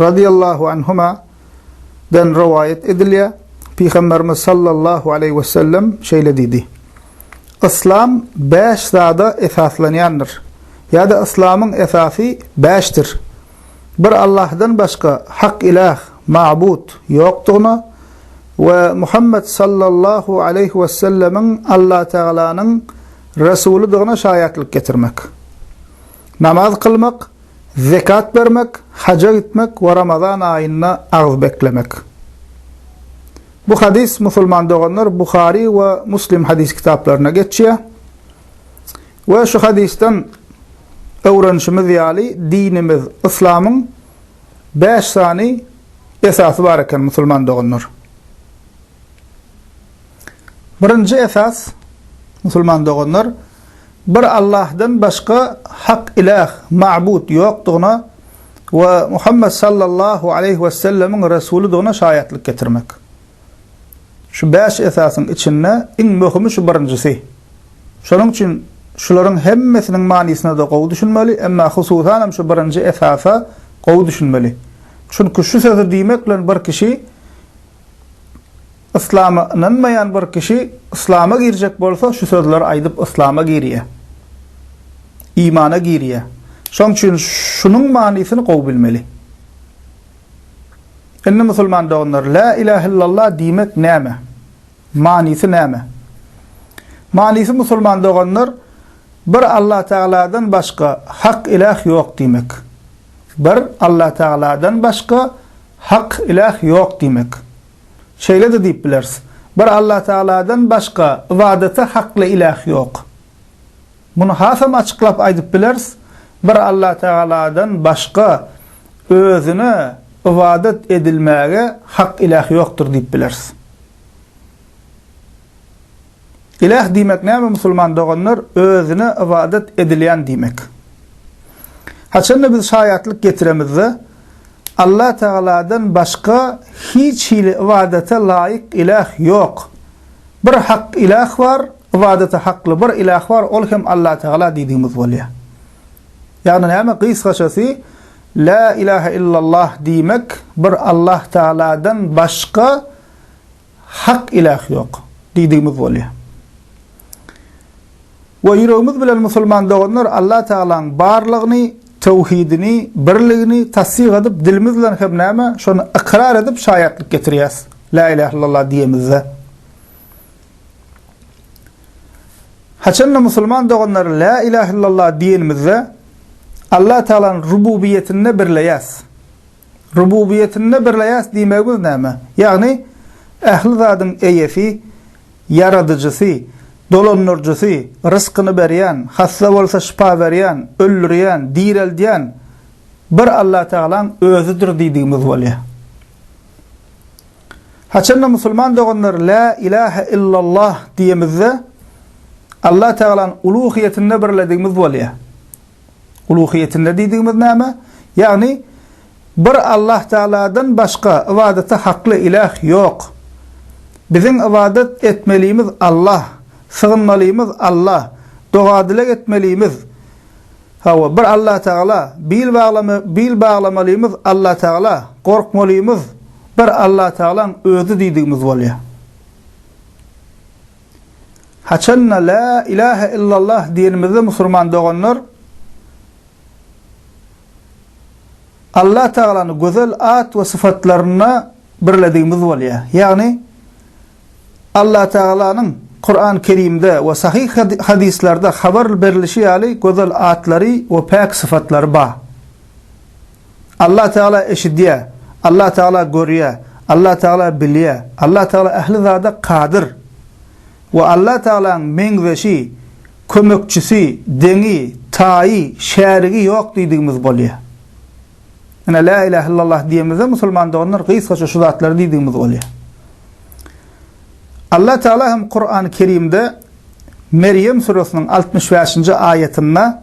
Razyýallahu anhuma, den rowaýat edilýär, Pygamberimiz sallallahu aleýhi we sellem şeýle diýdi, Yslam bäş zada esaslanýandyr, ýa-da Yslamyň esasy bäşdir, Bir Allahdan başga hak ilah, mabut, ýokdugyna we Muhammet sallallahu aleýhi we sellemiň Allatagalanyň Resulydygyna şaýatlyk getirmek, namaz kylmak, Zekat bermek, haja gitmek we Ramazan aýynda agyz beklemek. Bu hadys, musulman doganlar, Buhary we Muslim hadys kitaplarynda geçýär. We şu hadysdan öwrenişimiz ýaly, dinimiz Yslamyň 5 sany esasy bar eken, musulman doganlar. Birinji esas, musulman doganlar, Bir Allahdan başga hak iläh, mabut, ýokdugyna we Muhammet sallallahu aleýhi wessellemiň resulydygyna şaýatlyk getirmek. Şu bäş esasyň içinde iň möhümi şu birinjisi. Şonuň üçin şularyň hemmesiniň manysyna-da gowy düşünmeli, emma hususanam şu birinji esasa gowy düşünmeli. Çünki şu sözi diýmek bilen bir kişi Yslama ynanmaýan bir kişi yslama girjek bolsa şu sözleri aýdyp yslama girýär. Imana girýär. Şoň üçin şunuň manysyny gowy bilmeli. Indi musulman doganlar La ilah illallah diýmek näme? Manysy näme? Manysy musulman doganlar bir Allah tagaladan başga hak ilah ýok diýmek. Bir Allah tagaladan başga Hak, iläh, ýok diýmek. Şeýle-de diýip bileris, Bir Allatagaladan başga ybadata hakly iläh ýok. Muny hasam açyklap aýdyp bileris, Bir Allatagaladan başga Özüne ybadat edilmäge hak iläh ýokdur diýip bileris. Iläh diýmek näme musulman doganlar özüne ybadat edilýän diýmek. Haçanda biz şaýatlyk getiremizde Allah tagaladan başga hiç hili ybadata laýyk iläh ýok. Bir hak iläh bar, ybadata hakly bir iläh bar ol hem Allah tagala diýdigimiz bolýar. Ýagny näme gysgaçasy La ilahe illallah diýmek bir Allah tagaladan başga Hak ilah ýok diýdigimiz bolýar. We ýüregimiz bilen musulman doganlar Allah Tagalaň barlygyny, töwhidini, birligini tassyk edip dilimiz bilen hem näme şony ykrar edip şaýatlyk getirýäs La ilah illallah diýemizde. Haçanda musulman doganlar La ilah illallah diýenimizde Allah Tagalany rububiýetinde birleýäs. Rububiýetinde birleýäs diýmegimiz näme? Ýagny, ähli zadyň eýesi, ýaradyjysy, dolandyryjysy, ryskyny berýän, hassa bolsa şypa berýän, öldürýän, direldýän bir Allatagalaň Özüdir diýdigimiz bolýar. Haçanda musulman doganlar Lä ilähe illallah diýemizde, Allatagalany uluhyýetinde birledigimiz bolýar. Uluhyýetinde diýdigimiz näme? Ýagny bir Allah Tagaladan başga ybadata hakly iläh ýok. Biziň ybadat etmelimiz Allah, sygynmalymyz Allah, doga-dileg etmelimiz, hawa, bir Allah Tagala, bil baglamy bil baglamalymyz Allah Tagala, gorkmalymyz bir Allah Tagalaň özi diýdigimiz bolýar. Haçan-da Lä ilahe illallah diýenimizde musulman doganlar Allah Tagalany gözel at we syfatlarynda birledigimiz bolýar. Ýagny Allah Tagalanyň Kuran Kerimde we sahyh hadyslarda habar berilişi ýaly gözel atlary we päk syfatlary bar. Allah Tagala eşidýär, Allah Tagala görýär, Allah Tagala bilýär, Allah Tagala ähli zada kadyr we Allah Tagalaň meňzeşi, kömekçisi, deňi, taýy, şärigi ýok diýdigimiz bolýar. Ine la ilah illallah diýemizde musulman doganlar gysgaça şu zatlary diýdigimiz bolýar. Allah Tagala hem Kur'an-ı Kerimde Meryem suresiniň 65-nji aýatynda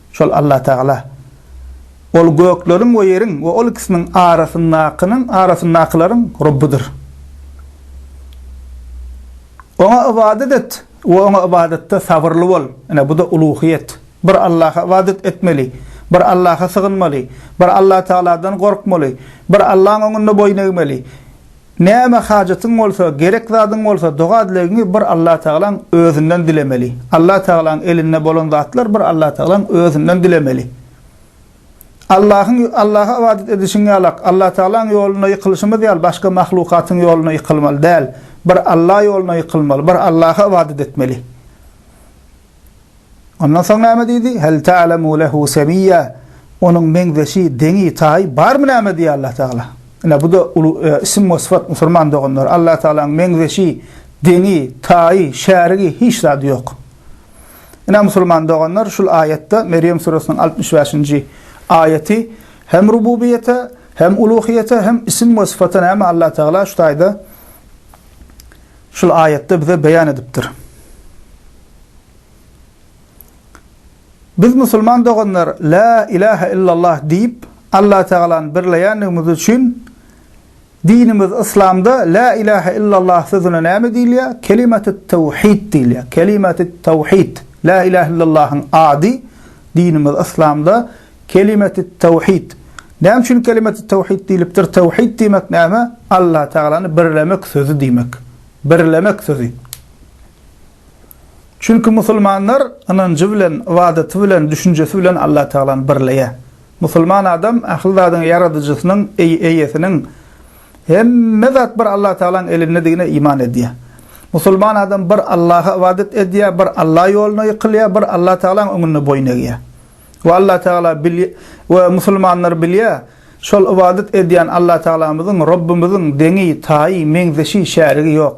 Şol Allatagala, Ol gökleriň we ýeriň we ol ikisiniň arasyndakynyň, arasyndakylaryň Rebbidir. Oňa ybadat et we Oňa ybadatda sabyrly bol. Ine, bu-da uluhyýet. Bir Allaha ybadat etmeli, bir Allaha sygynmaly, bir Allatagaladan gorkmaly, bir Allaň öňünde boýun egmeli. Näme hajatyň bolsa, gerek zadyň bolsa, doga-dilegiňi bir Allatagalaň Özünden dilemeli. Allatagalaň elinde bolan zatlar bir Allatagalaň Özünden dilemeli. Allahyň, Allaha ybadat edişiň ýalak, Allatagalaň ýolunda ýykylyşymyz ýaly başga mahlukatyň ýoluna ýykylmaly däl. Bir Alla ýoluna ýykylmaly, bir Allaha ybadat etmeli. Ondan soň näme diýdi? Hel ta'lemu lehu semiyya. Onuň meňzeşi, deňi, taýy barmy näme diýýär Allah Tagala. Ine bu da uly isim we syfat musulman doganlar. Allah Tagalaň meňzeşi, deňi, taýy, şärigi hiç zady ýok. Ine musulman doganlar şul aýatda Merýem suresiniň altmyş bäşinji aýaty hem rububiýete, hem uluhiýete, hem isim we syfata näme Allah Tagala şu taýda şul aýatda bize beýan edipdir. Biz musulman doganlar La ilahe illallah diýip Allatagalany birleýändigimiz üçin dinimiz Yslamda La ilahe illallah sözüne näme diýilýär? Kelimaty tawhid diýilýär. Kelimaty tawhid. La ilahe illallahyň ady dinimiz Yslamda Kelimaty tawhid. Näme üçin Kelimaty tawhid diýlipdir? Tawhid diýmek näme? Allatagalany birlemek sözi diýmek. Birlemek sözi. Çünki musulmanlar ynanjy bilen, ybadaty bilen, düşünjesi bilen Allatagalany birleýär. Musulman adam ähli zadyň Ýaradyjysynyň, Eýesiniň, hemme zat bir Allatagalaň elindedigine iman edýär. Musulman adam bir Allaha ybadat edýär, bir Alla ýoluna ýykylýar, bir Allatagalaň öňünde boýun egýär. We Allatagala we musulmanlar bilýär, şol ybadat edýän Allatagamyzyň, Rabbymyzyň deňi, taýy, meňzeşi, şärigi ýok.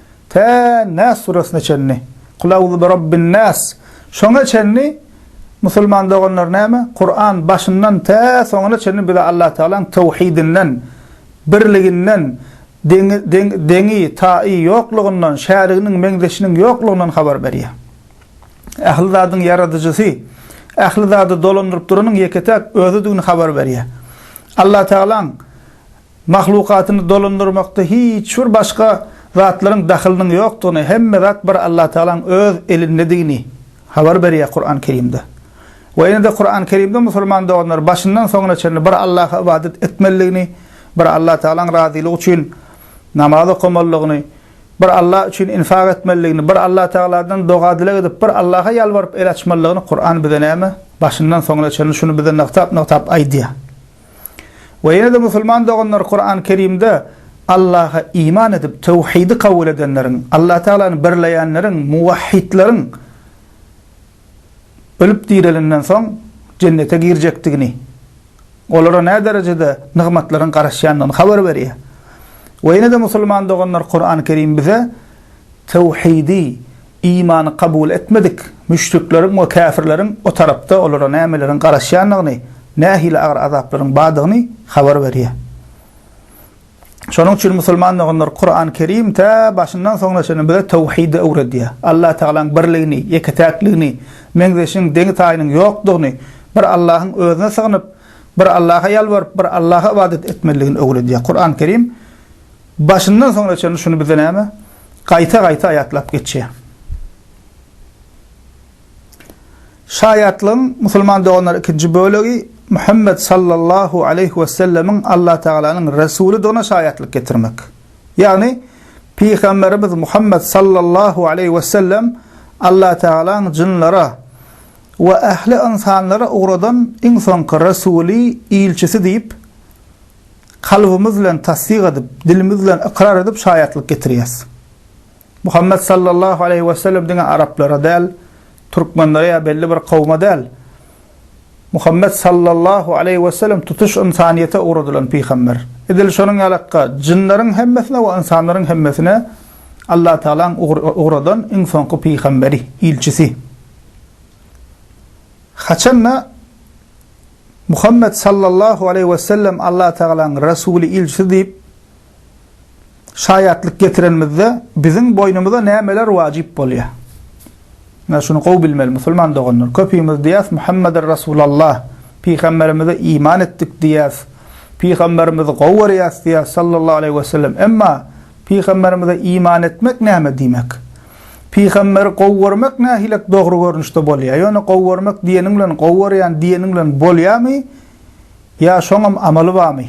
tä Nas surasyna çenli, Kul auzu bi Rabbin Nas, şoňa çenli musulman doganlar näme, Kuran başyndan tä soňuna çenli bize Allatagalaň töwhidinden, birliginden, deňi, taýy ýoklugyndan, şäriginiň, meňzeşiniň ýoklugyndan habar berýär. Ähli zadyň ýaradyjysy, ähli zady dolandyryp duranyň ýeke-täk Özüdigini habar berýär. Allatagalaň. mahlukatyny dolandyrmakda hiç bir başga zatlaryň dahylynyň ýokdugyny, hemme zat bir Allatagalaň öz elindedigini habar berýär Kuran Kerimde. We ýene-de Kuran Kerimde musulman doganlar başyndan soňuna çenli bir Allaha ybadat etmelidigini, bir Allatagalaň razylygy üçin namaz okamalydygyny, bir Alla üçin infak etmelidigini, bir Allatagaladan doga-dileg edip, bir Allaha ýalbaryp el açmalydygyny Kuran bize näme, başyndan soňuna çenli şuny bize nygtap-nygtap aýdýar. We ýene-de musulman doganlar Kuran Kerimde Allaha iman edip, töwhidi kabul edenleriň, Allah Tagalany birleýänleriň, muwahhidleriň ölüp direlenden soň jennete girjekdigini, olara nä derejede nygmatlaryň garaşýandygyny habar berýär. We ýene-de musulman doganlar Kuran Kerim bize töwhidi Imany kabul etmedik müşrikleriň we käfirleriň o tarapda olara nämeleriň garaşýandygyny, nähili agyr azaplaryň bardygyny habar berýär. Şonuň üçin musulman doganlar, Kuran Kerim tä başyndan soňuna çenli bize töwhidi öwredýär. Allataýalaň birligini, ýeke-täkligini, meňzeşiň, deňi-taýynyň ýokdugyny, bir Allahyň özüne sygynyp, bir Allaha ýalbaryp, bir Allaha ybadat etmeliligini öwredýär. Kuran Kerim. Başyndan soňuna çenli şuny bize näme gaýta-gaýta aýatlap geçýär. Şaýatlygyň, musulman doganlar ikinji bölegi, Muhammet sallallahu aleýhi wesellemiň Allah Tagalanyň Resulydygyna şaýatlyk getirmek. Ýagny, Pygamberimiz Muhammet sallallahu aleýhi wesellem Allah Tagalaň jynlara we ähli ynsanlara ugradan iň soňky Resuly, ilçisi diýip, kalbymyz bilen tassyk edip, dilimiz bilen ykrar edip şaýatlyk getirýäs. Muhammet sallallahu aleýhi we sellem diňe araplara däl, türkmenlere ýa belli bir kowuma däl, Muhammet sallallahu aleýhi we sellem tutuş ynsanyýete ugradylan pygamber. Edil şonuň ýalykka jynlaryň hemmesine we ynsanlaryň hemmesine Allah Tagalaň ugradan iň soňky pygamberi, ilçisi. Haçan-da Muhammet sallallahu aleýhi wesellem Allatagalaň Resuly, Ilçisi diýip şaýatlyk getirenimizde biziň boýnumyza nämeler wajyp bolýar? Ine şuny gowy bilmeli musulman doganlar. Köpimiz diýýäs Muhammeden Resulallah, Pygamberimize iman etdik diýýäs, Pygamberimizi gowy görýäs diýýäs sallallahu aleýhi wesellem. Emma Pygamberimize iman etmek näme diýmek? Pygamberi gowy görmek nähilek dogry görnüşde bolýar? Ýöne gowy görmek diýeniň bilen gowy görýän diýeniň bilen bolýarmy? Ýa şoňam amaly barmy?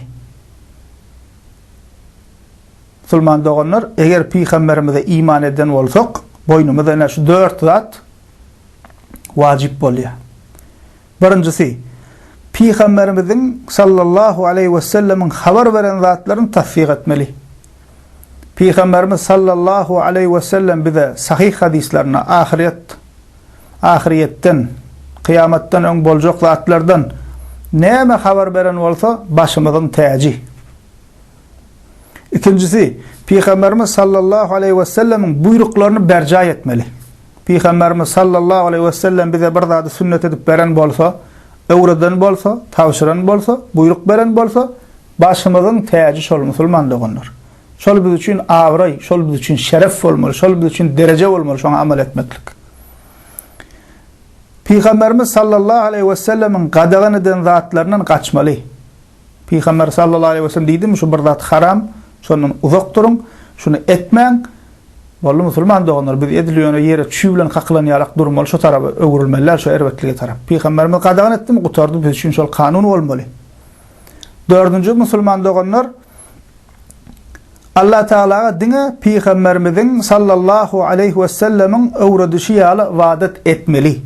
Musulman doganlar, eger pygamberimize iman eden bolsak, boýnumyza ine şu dört zat wajyp bolýar. Birinjisi, Pygamberimiziň sallallahu aleýhi wesellemiň habar beren zatlaryny tassyk etmeli. Pygamberimiz sallallahu aleýhi wesellem bize sahyh hadyslarynda ahyryýet, ahyryýetden, kyýamatdan öň boljak zatlardan näme habar beren bolsa, başymyzyň täji. Ikinjisi, Pygamberimiz sallallahu aleýhi wesellemiň buýruklaryny berjaý etmeli. Pygamberimiz sallallahu aleýhi wesellem bize bir zady sünnet edip beren bolsa, öwreden bolsa, tabşyran bolsa, buýruk beren bolsa, başymyzyň täji şol musulman doganlar. Şol biz üçin abraý, şol biz üçin şeref bolmaly, şol biz üçin dereje bolmaly şoňa amal etmeklik. Pygamberimiz sallallahu aleýhi wesellemiň gadagan eden zatlaryndan gaçmaly. Pygamber sallallahu aleýhi we sellem diýdimi, şu bir zat haram, şondan uzak duruň, şuny etmäň. Boldy musulman doganlar, biz edil ýöne ýere çüý bilen kakylan ýalak durmaly, şu taraba öwrülmeli-däl, şu erbetlige tarap. Pygamberimiz gadagan etdimi, gutardy, biz üçin şol kanun bolmaly. Dördünji musulman doganlar, Allah Tagalaga diňe pygamberimiziň sallallahu aleýhi we sellemiň öwredişi ýaly ybadat etmeli.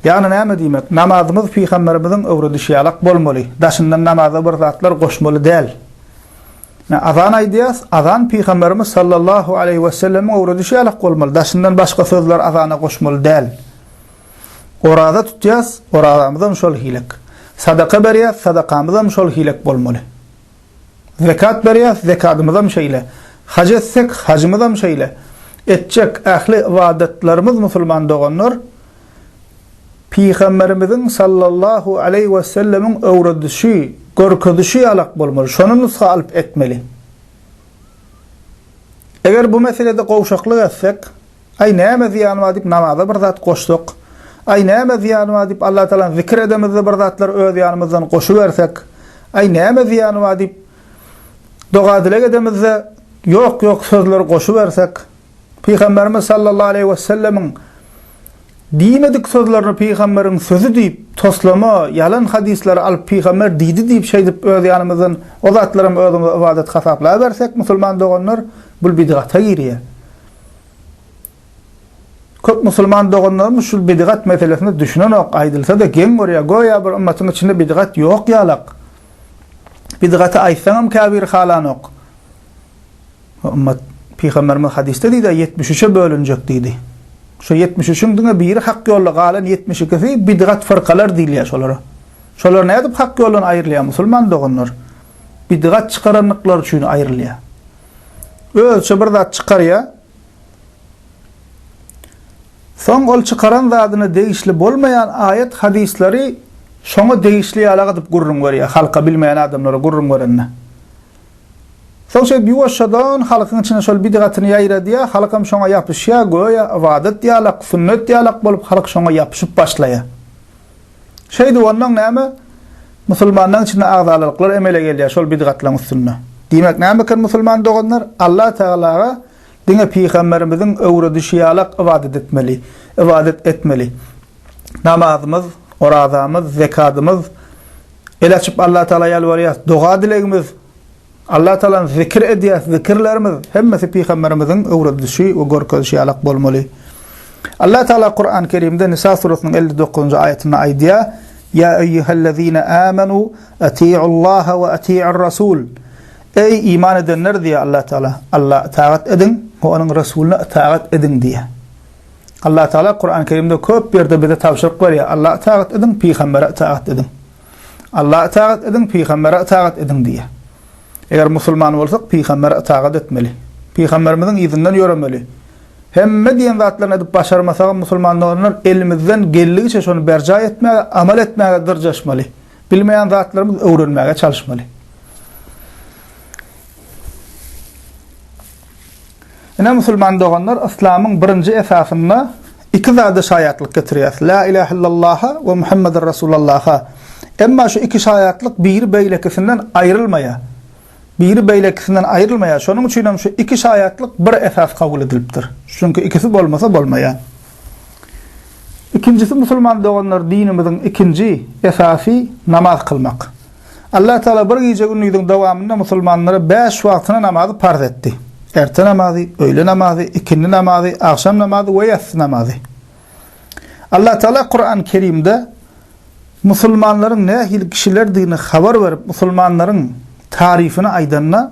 Ýagny näme diýmek? Namazymyz pygamberimiziň öwredişi ýalak bolmaly, daşyndan namaza bir zatlar goşmaly däl. Azan aýdýas, azan pygamberimiz sallallahu aleýhi wesellemiň öwredişi ýalak bolmaly, daşyndan başga sözler azana goşmaly däl. Oraza tutýas, orazamyzam şol hilik. Sadaka berýäs, sadakamyzam şol hilik bolmaly. Zekat berýäs, zekadymyzam şeýle. Haj etsek, hajymyzam şeýle. Etjek ähli ybadatlarymyz musulman doganlar, Pygamberimiziň sallallahu aleýhi wesellemiň öwredişi, görkezişi ýalak bolmaly, şony nusga alyp etmeli. Eger bu meselede gowşaklyk etsek, Aý, näme zyýany bar diýip namaza bir zat goşsak? Aý, näme zyýany bar diýip Allatagalany zikir edemizde bir zatlar öz ýanymyzdan goşubersek? Aý, näme zyýany bar diýip doga-dileg edemizde ýok-ýok sözleri goşubersek? Pygamberimiz sallallahu aleýhi wesellemiň diýmedik sözlerini pygamberiň sözi diýip, toslama, ýalan hadyslary alyp pygamber diýdi diýip şeýdip öz ýanymyzdan o zatlaram özümize ybadat hasaplabersek musulman doganlar bul bidgata girýär. Köp musulman doganlarymyz şul bidigat meselesine düşünenok, aýdylsa-da geň görýär, göýä bir ymmatyň içinde bidigat ýok ýalak. Bidigaty aýtsaňam käbiri halanok. Bu ymmat Pygamberimiz hadysda diýdi, ýetmiş üçe bölünjek diýdi. Şu ýetmiş üçüň diňe biri hak ýolda, galan ýetmiş ikisi bidigat fyrkalar diýilýär şolara. Şolar nädip hak ýoldan aýrylýar musulman doganlar? Bidigat çykarandyklary üçin aýrylýar. özüçe bir zat çykarýar. Soň ol çykaran zadyna degişli bolmaýan aýat hadyslary şoňa degişli ýalak edip gürrüň berýär halka bilmeýän adamlara gürrüň berende. Soň şeýdip ýuwaşjadan halkyň içine şol bidgatyny ýaýradýar, halkam şoňa ýapyşýar, göýä ybadat ýalak, sünnet ýalak bolup halk şoňa ýapyşyp başlaýar. Şeýdip ondan näme? Musulmanlaryň içinde agzalylyklar emele gelýär şol bidgatlaryň üstünde. Diýmek näme eken musulman doganlar? Allah Tagalaga diňe pygamberimiziň öwredişi ýalak ybadat etmeli, ybadat etmeli. Namazymyz, orazamyz, zekadymyz, el açyp Allah Tagala ýalbarýas, doga-dilegimiz Alla Taala zikir edýäs, zikirlerimiz hemmesi pygamberimiziň öwredişi we görkezişi ýalak bolmaly. Alla Taala Kurany Kerimde Nisa suresynyň elli dokuzynjy aýatynda aýdýar, Ýa eýýuhellezine amanu atiullaha we atiur rasul. Eý iman edenler diýýär Alla Taala, Alla itagat ediň we onuň resulyna itagat ediň diýýär. Alla Taala Kurany Kerimde köp ýerde bize tabşyryk berýär, Alla itagat ediň, pygambere itagat ediň. Allaha itagat ediň, pygambere itagat ediň diýýär. Eger musulman bolsak, pygambere itagat etmeli. Pygamberimiziň yzyndan ýöremeli. Hemme diýen zatlaryny edip başarmasagam musulman doganlar elimizden geldigiçe şony berjaý etmäge, amal etmäge dyrjaşmaly. Bilmeýän zatlarymyz öwrenmäge çalyşmaly. Ine, musulman doganlar, yslamyň birinji esasynda iki zada şaýatlyk getirýäris, Lä ilähe illallaha we Muhammeden Rasulallaha. Emma şu iki şaýatlyk biri beýlekisinden aýrylmaýar. Biri beýlekisinden aýrylmaýar. Şonuň üçin hem şu iki şaýatlyk bir esas kabul edilipdir. Çünki ikisi bolmasa bolmaýar. Ikinjisi musulman doganlar dinimiziň ikinji esasy namaz kylmak. Allatagala bir gije-gündiziň dowamynda musulmanlara bäş wagtyna namazy parz etdi. Erte namazy, öýle namazy, ikindi namazy, agşam namazy we ýassy namazy. Allatagala Kurany Kerimde musulmanlaryň nähili kişilerdigini habar berip, musulmanlaryň taryfyny aýdanda,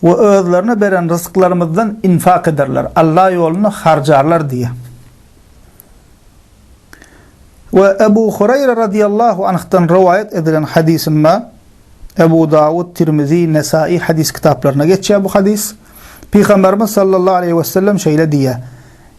we özlerine beren ryzyklarymyzdan infak ederler, Alla ýolunda harjarlar diýýär. We Ebu Hureýre radyýallahu anhdan rowaýat edilen hadysynda, Ebu Dawud, Tirmizi, Nesaýy hadys kitaplarynda geçýär bu hadys, Pygamberimiz sallallahu aleýhi wesellem şeýle diýýär,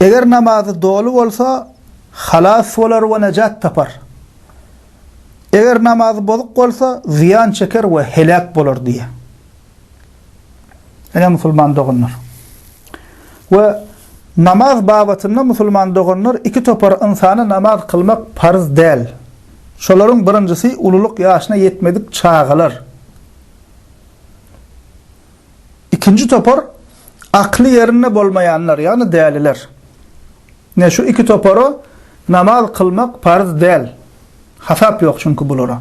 Eger namazy doly bolsa, halas bolar we nejat tapar. Eger namazy bozuk bolsa, zyýan çeker we heläk bolar diýýär. Ine musulman doganlar. We namaz babatynda musulman doganlar iki topar ynsana namaz kylmak parz däl. Şolaryň birinjisi ululyk ýaşyna ýetmedik çagalar. Ikinji topar akly ýerinde bolmaýanlar, ýagny däliler. Ine, şu iki topara namaz kylmak parz däl. Hasap ýok çünki bulara.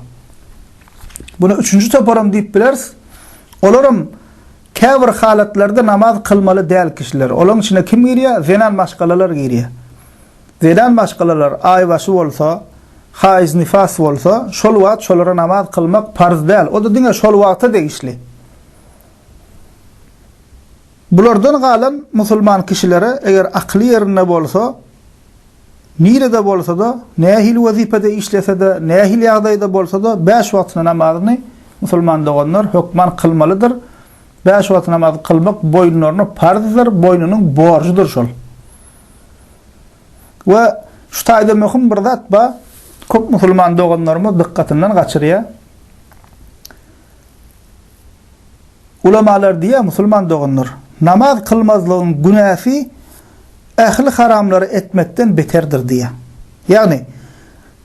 Muny üçünji toparam diýip bileris. Olaram käbir halatlarda namaz kylmaly däl kişiler. Olaryň içine kim girýär? Zenan maşgalalar girýär. Zenan maşgalalar aýbaşy bolsa, haýz-nifas bolsa, şol wagt şolara namaz kylmak parz däl. O-da diňe şol wagta degişli. Bulardan galan musulman kişilere eger akyly ýerinde bolsa, nirede bolsa-da, nähili wezipede işlese-de, nähili ýagdaýda bolsa-da, bäş wagtyna namazyny, musulman doganlar, hökman kylmalydyr. Bäş wagt namaz kylmak boýunlaryna parzdyr, boýnunyň borjudyr şol. We şu taýda möhüm bir zat bar, köp musulman doganlarymyz dykgatyndan gaçyrýar. Ulamalar diýýär, musulman doganlar, namaz kylmazlygyň günäsi ähli haramlary etmekden beterdir diýýär. Ýagny,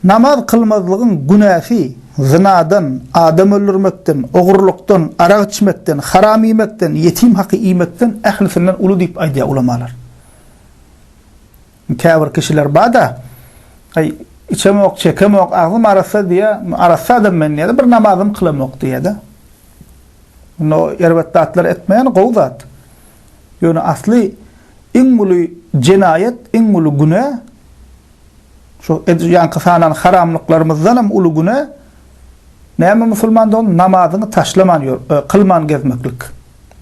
namaz kylmazlygyň günäsi zynadan, adam öldürmekden, ogurlykdan, arak içmekden, haram iýmekden, ýetim haky iýmekden ählisinden uly diýip aýdýar ulamalar. Käbir kişiler bar-da, Aý, içemok, çekemok, agzym arassa diýýä, arassa adam men diýýä-de, bir namazym kylamok diýýä-de. Indi o erbet zatlary etmeýän gowy zat. Ýöne asly iň uly jenaýat, iň uly günä, şu edil ýaňky sanan haramlyklarymyzdan hem uly günä, näme musulmandygyň, namazyňy taşlaman ýör, kylman gezmeklik.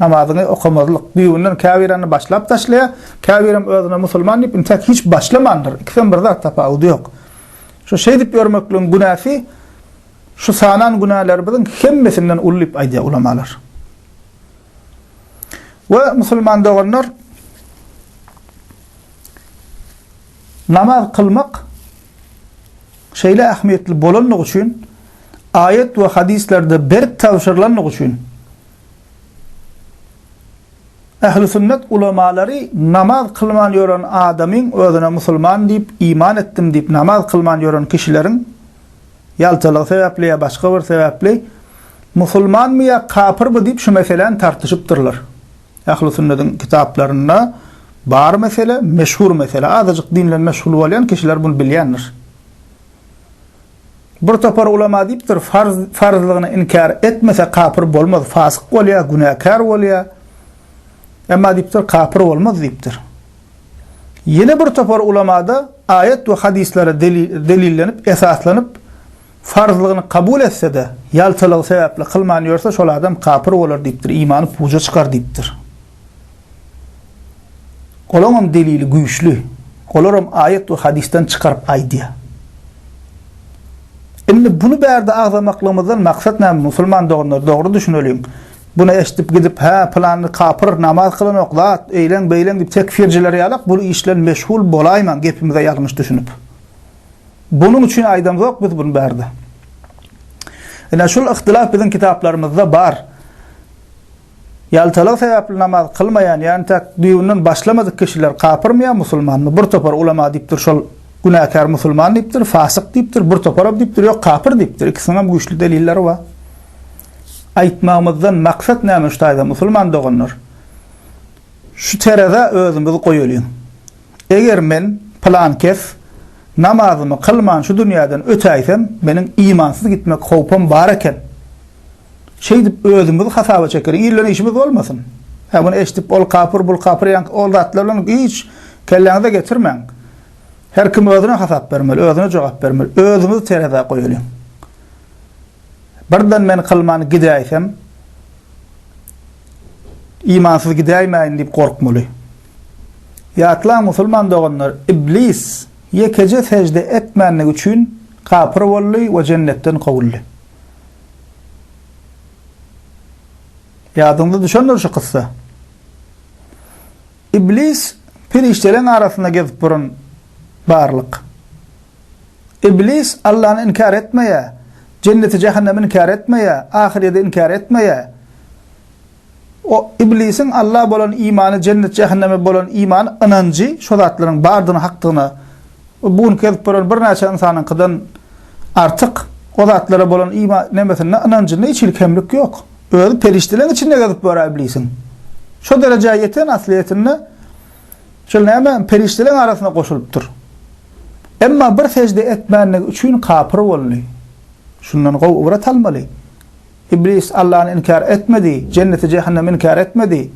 Namazyňy okamazlyk. Düýbünden käbirany başlap taşlaýar, käbirem özüne musulman diýip intäk hiç başlamandyr. Ikisem bir zat, tapawudy ýok. Şu şeýdip ýörmekligiň günäsi şu sanan günälerimiziň hemmesinden uly diýip aýdýar ulamalar. We musulman doganlar namaz kılmak şeýle ähmiýetli bolandygy üçin aýat we hadislerde berk tabşyrylandygy üçin Ählüsünnet ulamalary namaz kylman ýören adamyň özüne musulman diýip, iman etdim diýip namaz kylman ýören kişileriň ýaltalygy sebäpli ýa başga bir sebäpli musulmanmy ýa kapyrmy diýip şu meseläni tartyşypdyrlar. Ählüsünnetiň kitaplarynda bar mesele, meşhur mesele. Azajyk din bilen meşgul bolýan kişiler bunu bilýändir. Bir topar ulama diýipdir, farz farzlygyny inkär etmese kapyr bolmaz, fasyk bolýar, günäkär bolýar. Emma diýipdir, kapyr bolmaz diýipdir. Ýene bir topar ulamada aýat we hadyslara delillenip, esaslanyp, farzlygyny kabul etse-de, ýaltalygy sebäpli kylman ýörse, şol adam kapyr bolar diýipdir, imany puja çykar diýipdir. Olaňam delili güýçli. Olaram aýat we hadysdan çykaryp aýdýar. Indi bunu bärde agzamaklygymyzdan maksat näme musulman doganlar dogry düşüneliň. Bunu eşdip gidip hä pylany kapyr namaz kylanok zat eýleň beýleň diýip tekfirjiler ýalak bul iş bilen meşgul bolaýmaň gepimize ýalňyş düşünip. Bunuň üçin aýdamzok biz bunu bärde. Ine şul yhtylaf biziň kitaplarymyzda bar. Ýaltalygy sebäpli namaz kylmaýan, ýagny täk düýbünden başlamadyk kişiler kapyrmy ýa musulmanmy? Bir topar ulema diýipdir, şol günäkär musulman diýipdir, fasyk diýipdir, bir toparam diýipdir, ýok kapyr diýipdir. Ikisiniňem güýçli delilleri bar. Aýtmagymyzdan maksat näme şu taýda musulman doganlar? Şu terezä özümizi goýalyň. Eger men, pylankes, namazymy kylman şu dünýäden ötäýsem, meniň imansyz gitmek howpam bar eken. Şeýdip özümizi hasaba çekeris. Ilden işimiz bolmasyn. Hä muny eşdip ol kapyr bul kapyr ýaňky ol zatlar bilen hiç kelläňize getirmäň. Her kim özüne hasap bermeli, özüne jogap bermeli. Özümizi terezä goýalyň. Birden men kylman gidäýsem imansyz gidäýmäýin diýip gorkmaly. Ýatlaň musulman doganlar, iblis ýekeje sejde etmänligi üçin kapyr boldy we jennetden kowuldy. Ýadyňyza düşendir şu kyssa. Iblis perişdeleriň arasynda gezip duran barlyk. Iblis Allany inkär etmeýär, jenneti-jähennemi inkär etmeýär, ahyrýeti inkär etmeýär. O, Iblisiň Alla bolan imany, jennet-jähenneme bolan imany, ynanjy, şo zatlaryň bardygyna, hakdygyna we bu günki gezip ýören birnäçe ynsanyňkydan artyk o zatlara bolan ima, nemesinde, ynanjynda hiç hili kemlik ýok. Özi perişdeleriň içinde gezip ýör-ä Iblisiň. Şo derejä ýeten, aslyýetinde, şol näme, perişdeleriň arasyna goşulypdyr. Emma bir sejde etmändigi üçin kapyr boldy. Şundan gowy ybrat almaly. Iblis Allany inkär etmedi, jenneti-jähennemi inkär etmedi.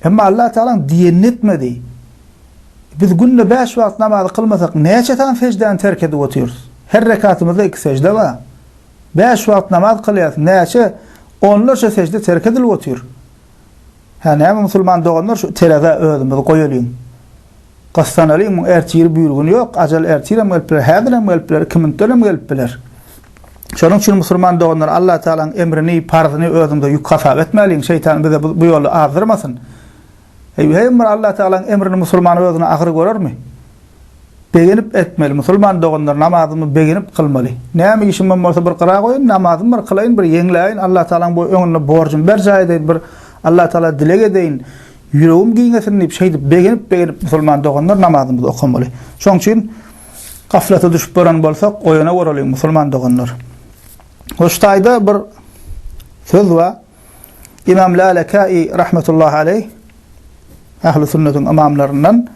Emma Allah Tagalaň diýenini etmedi. Biz günde bäş wagt namazy kylmasak, näçe sany seždäni terk edip otyrys? Her rekatymyzda iki sežde bar. Bäş wagt namaz kylýarys, näçe onlarça sežde terk edilip otyr? Hä, näme musulman doganlar şu terazä özümizi goýalyň. Gyssanalyň, muň ertiri büýrgüni ýok, ajal ertirem gelip biler, häzirem gelip biler, iki minutdanam gelip biler. Şonuň üçin musulman doganlar Allah Tagalaň emrini, parzyny özüňize ýük hasap etmäliň, şeýtan bize bu ýoly azdyrmasyn. Heý, heý bir Allah Tagalaň emrini musulman özüne agyr görermi? Begenip etmeli. Musulman doganlar namazymy begenip kylmaly. Näme işimem bolsa bir gyra goýun, namazymy bir kylaýyn, bir ýeňläýin, Allah Tagalaň bu öňünde borjumy berjaý edeýin, bir Allah Tagala dileg edeýin, ýüregim giňesin diýip şeýdip begenip begenip musulman doganlar namazymyzy okamaly. Şoň üçin gaflata düşüp bolan bolsak oýana goralyň musulman doganlar. Hoş taýda bir söz bar. Ymam Lalekäi rahmetullahi aleýh, Ähli sünnetiň ymamlaryndan,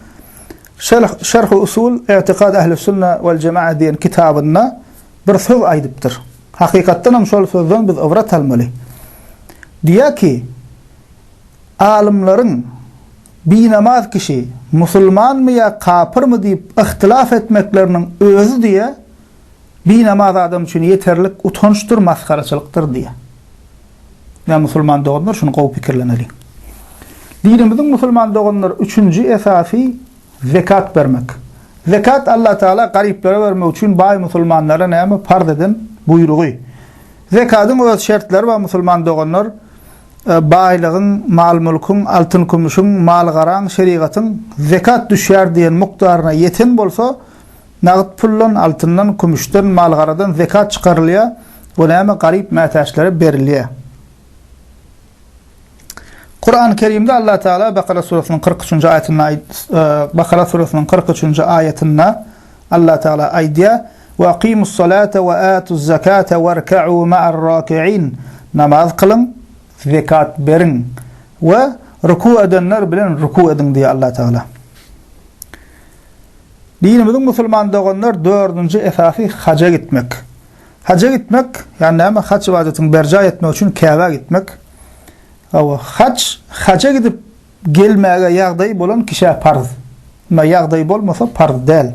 Şerh, Şerh-u usul I'tiqad Ähli sünne wal jema'a diýen kitabynda bir söz aýdypdyr. Hakykatdan hem şol sözden biz ybrat almaly. Diýýär ki, Alymlaryň binamaz kişi musulmanmy ýa kapyrmy diýip yhtilaf etmekleriniň özi diýe, Binamaz adam üçin ýeterlik utançdyr, masgaraçylykdyr diýýär. Ýa musulman doganlar şuny gowy pikirlemeliň. Dinimiziň musulman doganlar üçünji esasy zekat bermek. Zekat Allah Taala garyplara bermek üçin baý musulmanlara näme parz eden buýrugy. Zekadyň öz şertleri bar musulman doganlar baýlygyň, mal-mülküň, altyn-kümüşiň, mal-garaň şerigatyň zekat düşýär diýen mukdaryna ýeten bolsa, Nagt puldan, altyndan, kümüşden, mal-garadan zekat çykarylýar we näme garyp mätäçlere berilýär. Kurany Kerimde Allah Teala Bakara suresiniň kyrk üçünji aýatynda Bakara suresiniň kyrk üçünji aýatynda Allah Teala aýdýar, Ve akimus salate ve atuz zekate werka'u ma'ar raki'in. Namaz kylyň, zekat beriň we ruku edenler bilen ruku ediň diýýär Allah Teala. Dinimiziň musulman doganlar dördünji esasy haja gitmek. Haja gitmek, ýagny näme haç ybadatyn berjaý etmek üçin Käbä gitmek. Hawa, haç haja gidip gelmäge ýagdaýy bolan kişä parz. Emma ýagdaýy bolmasa parz däl.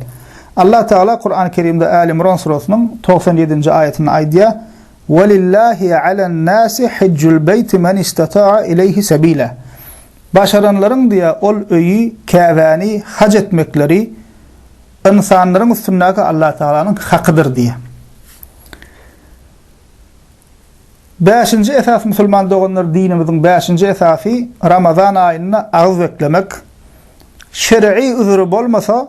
Allah Tagala Kurany Kerimde Äli Imran surasynyň togsan ýedinji aýatynda aýdýar, Welillahi alen nasi hijjul beýti men istata'a ileýhi sebila. Başaranlaryň diýä ol öýi, Käbäni, haj etmekleri ynsanlaryň üstündäki Allatagalanyň hakydyr diýä. Bäşinji esas musulman doganlar dinimiziň bäşinji esasy Ramazan aýynda agyz beklemek. Şer'i üzüri bolmasa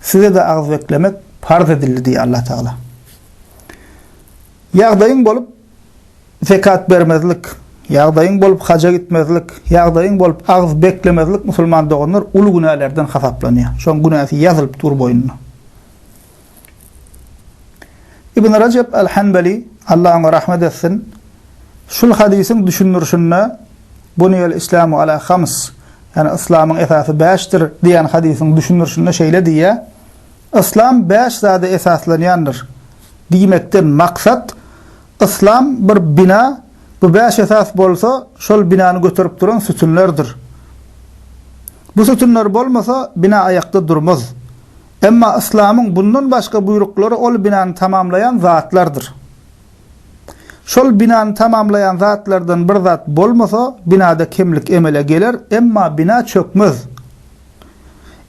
Size-de agyz beklemek parz edildi diýýär Allah Tagala. Ýagdaýyň bolup zekat bermezlik, ýagdaýyň bolup haja gitmezlik, ýagdaýyň bolup agyz beklemezlik musulman doganlar uly günälerden hasaplanýar. Şoň günäsi ýazylyp dur boýnuna. Ibn Rejep al-Hanbali Allah oňa rahmet etsin. Şul hadysyň düşündirişinde Buniyel Islamu ala hams Ýagny Yslamyň esasy bäşdir diýen hadysyň düşündirişinde şeýle diýýär, Yslam bäş zada esaslanýandyr. Diýmekden maksat, Yslam bir bina, bu bäş esas bolsa, şol binany göterip duran sütünlerdir. Bu sütünler bolmasa, bina aýakda durmaz. Emma Yslamyň bundan başga buýruklary ol binany tamamlaýan zatlardyr. Şol binany tamamlaýan zatlardan bir zat bolmasa, binada kemlik emele geler, emma bina çökmez.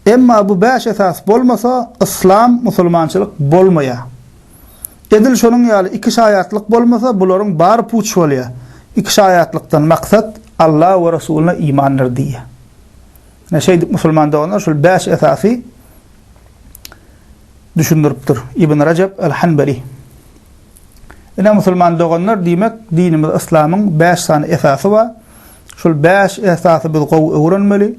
Emma bu bäş esas bolmasa, yslam, musulmançylyk bolmaýar. Edil şonuň ýaly iki şaýatlyk bolmasa, bularyň bary puç bolýar. Iki şaýatlykdan maksat Alla we Resulyna imandyr diýýär. Ine, şeýdip musulman doganlar şol bäş esasy, düşündiripdir. Ibn Rejep el-Hanbeli. Ine, musulman doganlar, diýmek, dinimiz yslamyň bäş sany esasy bar. Şol bäş esasy biz gowy öwrenmeli,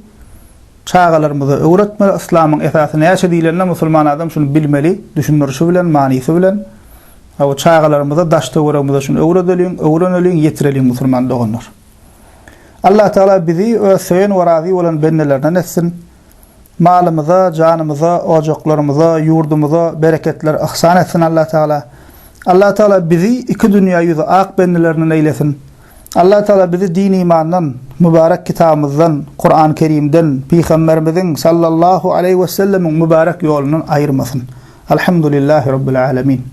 çagalarymyza öwretmeli. Yslamyň esasy näçe diýlende, musulman adam şuny bilmeli, düşündirişi bilen, manysy bilen. Hawa, çagalarymyza, daş-töweregimize şuny öwredeliň, öwreneliň, ýetireliň, musulman doganlar. Allatagala bizi öz söýen we razy bolan bendelerinden etsin! Malymyza, janymyza, ojaklarymyza, ýurdumyza bereketler yhsan etsin Allatagala. Allatagala bizi iki dünýä ýüzi ak bendelerinden eýlesin. Allatagala bizi din-imandan, mübärek kitabymyzdan, Kuran Kerimden, Pygamberimiziň, sallallahu aleýhi wesellemiň, mübärek ýolundan aýyrmasyn. Alhamdulillahi Rabbil Alemin.